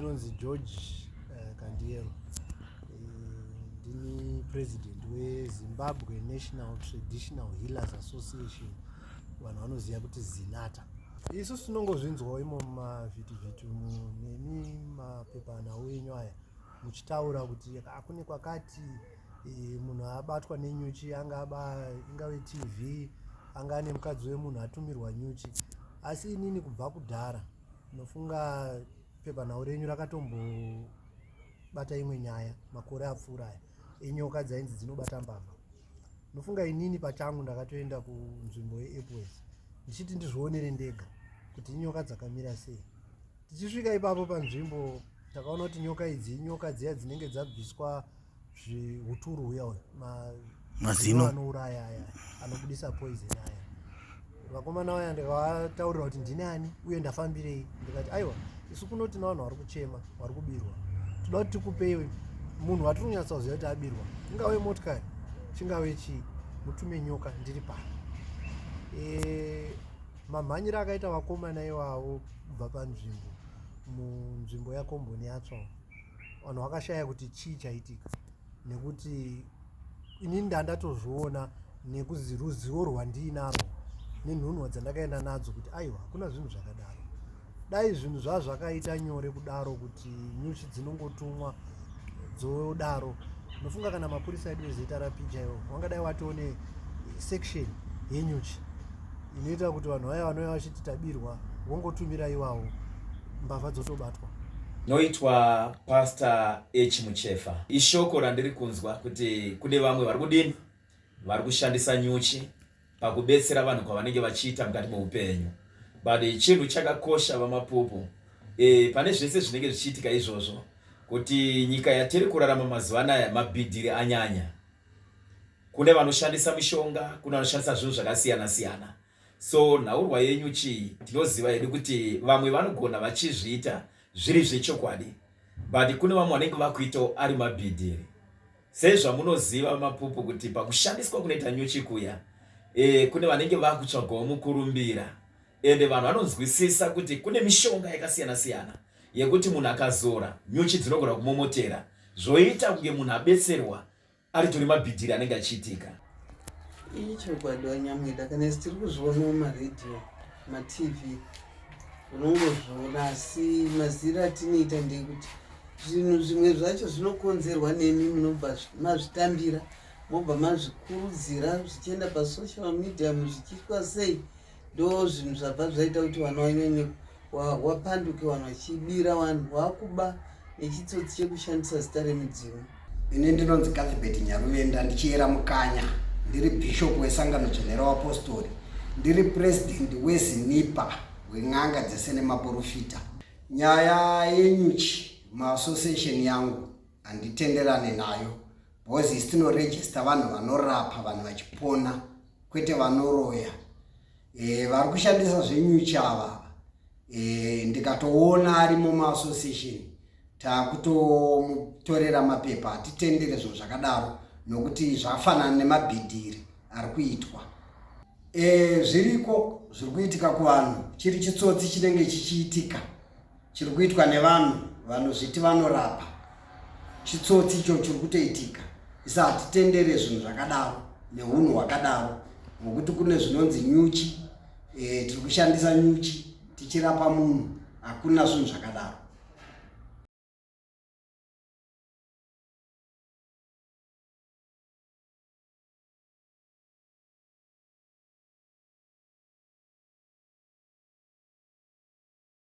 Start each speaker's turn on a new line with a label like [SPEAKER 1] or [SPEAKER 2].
[SPEAKER 1] ndinonzi george uh, kandiyero ndini president wezimbabwe national traditional healers association vanhu vanoziva kuti zinata isu tinongozvinzwawo imo mumavhitivhiti nemi mapepanhau enyu aya muchitaura kuti akune kwakati e, munhu abatwa nenyuchi angaba ingave tv anga ane mukadzi wemunhu atumirwa nyuchi asi inini kubva kudhara Ndinofunga pepanhau renyu rakatombobata imwe nyaya makore apfuura aya enyoka dzainzi dzinobata mbavha. Ndinofunga inini pachangu ndakatoenda kunzvimbo yeEpworth ndichiti ndizvionere ndega kuti inyoka dzakamira sei. Tichisvika ipapo panzvimbo takaona kuti nyoka idzi inyoka dziya dzinenge dzabviswa zvihuturu huya uya mazino anouraya aya anobudisa poison aya vakomana vaya ndikavataurira kuti ndini ani uye ndafambirei ndikati aiwa isu kuno tina vanhu vari kuchema vari kubirwa toda kuti tikupei munhu watiri kunyatsa kuziva kuti abirwa ingave motikari chingave chii mutume nyoka ndiri pano e, mamhanyiro akaita vakomana ivavo kubva panzvimbo munzvimbo yakomboni yatsva vanhu vakashaya kuti chii chaitika nekuti inini ndandatozviona nekuzi ruzivo rwandiinarwo nenhunwa dzandakaenda nadzo kuti aiwa hakuna zvinhu zvakadaro dai zvinhu zvazvakaita nyore kudaro kuti nyuchi dzinongotumwa dzodaro ndofunga kana mapurisa edu ezita rapi chaivo wangadai watione section yenyuchi inoita kuti vanhu vaya vanouya vachiti tabirwa wongotumira iwawo mbavha dzotobatwa noitwa
[SPEAKER 2] pastor h muchefa ishoko randiri kunzwa kuti kune vamwe vari kudini vari kushandisa nyuchi pakubetsera vanhu kwavanenge vachiita mukati meupenyu but chinhu chakakosha vamapupu e, pane zvese zvinenge zvichiitika izvozvo kuti nyika yatiri kurarama mazuva anaya mabhidhiri anyanya kune vanoshandisa mishonga kune vanoshandisa zvinhu zvakasiyana siyana so nhaurwa yenyu chii tinoziva hedu kuti vamwe vanogona vachizviita zviri zvechokwadi but kune vamwe vanenge vakuitawo ari mabhidhiri sezvamunoziva mapupu kuti pakushandiswa kunoita nyuchi kuya e, kune vanenge vakutsvagawo mukurumbira ende vanhu vanonzwisisa kuti kune mishonga yakasiyana siyana yekuti munhu akazora nyuchi dzinogona kumomotera zvoita kunge munhu abetserwa aritori mabhidhiri anenge achiitika iyi
[SPEAKER 3] chokwadi wanyamweda kana isi tiri kuzviona mumaredhiyo matv unongozviona asi maziro atinoita ndeyekuti zvinhu zvimwe zvacho zvinokonzerwa nemi munobva mazvitambira mobva mazvikurudzira zvichienda pasocial media muzvichiitwa sei Ndo zvinhu zvabva zvaita kuti vana wanyanye wapanduke wanhu vachibira vanhu wakuba nechitsotsi chekushandisa zita remudzimu ini ndinonzi
[SPEAKER 4] kathibet nyaruvenda ndichiyera mukanya ndiri bhishopu wesangano dzvenera wapostori ndiri purezidendi wezinipa wen'anga dzese nemaporofita nyaya yenyuchi maassociation yangu handitenderane nayo bhozi isitinoregista vanhu vanorapa vanhu vachipona kwete vanoroya e, vari kushandisa zvenyuchava e, eh, ndikatoona ari mumaassociation takutomutorera mapepa hatitendere zvinhu zvakadaro nokuti zvafanana nemabhidhiri ari kuitwa e, zviriko zviri kuitika kuvanhu chiri chitsotsi chinenge chichiitika chiri kuitwa nevanhu vanozviti vanorapa chitsotsi icho chiri kutoitika isa hatitendere zvinhu zvakadaro neunhu hwakadaro nokuti kune zvinonzi nyuchi e, tiri kushandisa nyuchi tichirapa munhu hakuna zvinhu zvakadaro